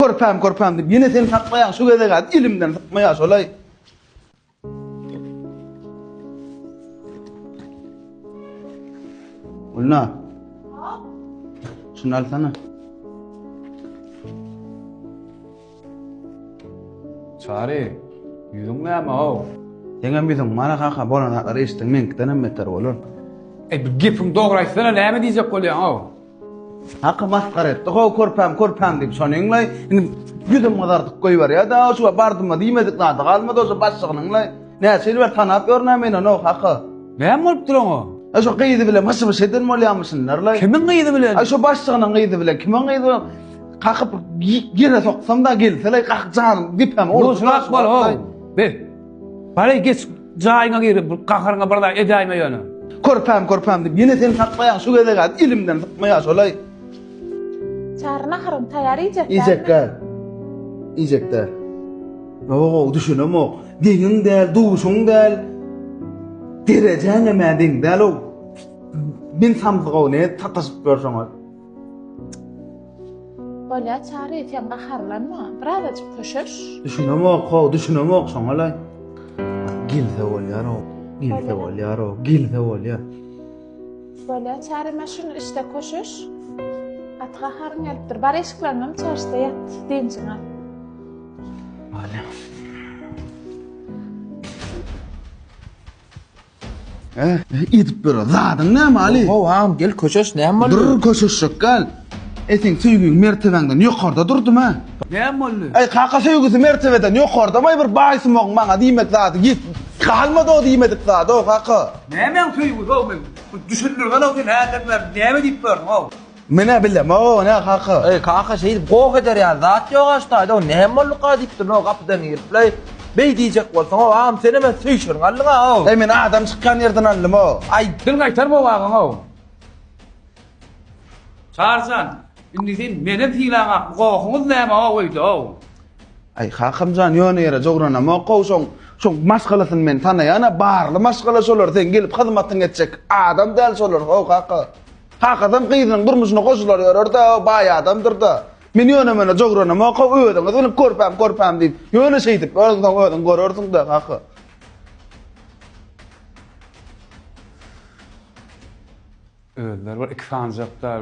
Körpäm, körpäm diýip, ýene seni saklaýan şu gezeg-ä elimden sypmaýar şolaý. Gülna. Şunu alsana. Çary, ýüzüň näme ow? Seňem ýüzüň mara kaka bolan zatlar eşitdiň meňkiden hem beter bolar. Ey, bir gepiň dogry aýtsana, näme diýjek bolýaň ow? Haky masgara etdi. How körpäm körpäm diýip şony iňlay. Indi ýüzüm gyzardyp goýberýär. Da şu bardyma diýmedik zady galmady o şu başlygyny iňlay. Näçe ýyl ber tanap ýörnä men onu haky. Näme bolup dur oňa? A şu gyzy bilen hyşy byş eden bolýamyşynlar lay. Kimiň gyzy bilen? A şu başlygynyň gyzy bilen kimiň gyzy bilen? Kakyp gire soksam da gelse lay kak janym depem. Dur şunak bol ho. Be. Bari geç jaýyňa gir, bu gaharyňa bir zat edäýme ýöne. Körpäm, körpäm diýip, ýene seni saklaýan şu gezeg az ilimden sypmaýa şolaý. Çary naharyny taýýar iýjekdä. Iýjekdä. Iýjekdä. Ýo-o, düşünemok. Deňiň däl, duşuň däl. Derejäňem-ä deň däl-ow. Men samsyk-ow, nädip sataşyp ýörseň-ow. Bolýa Çary, sen gaharlanma. Birazajyk köşeş. Düşünemok, ho, düşünemok şoňalaý. Gelse bolýar o, gelse bolýar o, gelse bolýar. Bolýa Çary, men şunu işte köşeş. Gaty gaharyň gelipdir. Bar eşikleriňem çarşda ýat, dynjyňy al. Bolýar. Edip ber. Zadyň näme Ali? Gowy agam gel köşeş näme boldy? Dur köşeşjek gal. E seň söýgiň mertebäňden ýokarda durdum a. Näme boldy? Eý kaka söýgüsi mertebeden ýokardam aý bir baýsumagyň maňa diýmek zady ýet galmady o diýmedik zady o kaka. Nämäň söýgüsi o men düşündirgen o sen häzirler näme diýip gördüň o. Men-ä bildim, o ne kaka? Eý, kaka, şeýdip goh eder ýaly zat ýok-a şu taýda, näm bolduka? diýip durun-ow gapydan girip-le, Beý diýjek bolsaň-ow, agam, senem hem söýşürin aldyň-a-ow! Eý, men adam çykýan ýerden aldym-ow! Aý, dil gaýtar bu agaň-ow! Çary jan, indi sen menem sylaňak, bu gohuňyz näme-ow öýde-ow? Aý, kakam jan, ýöne ýere jogranamok-ow, şoň, şoň maşgalasyny men tanaýan-a, barly maşgala şolar, seň gelip hyzmatyňy etjek adam däl şolar-ow, kaka! Kakasam gyzynyň durmuşyna goşular ýörer-de, baý adamdyr-da. Men ýöne-möne jogranym-oka, özüňiz bilip körpäm, körpäm diýip, ýöne şeýdip örüňsoň özüň görersiň-dä, kaka. Özleri bir iki sany japlar.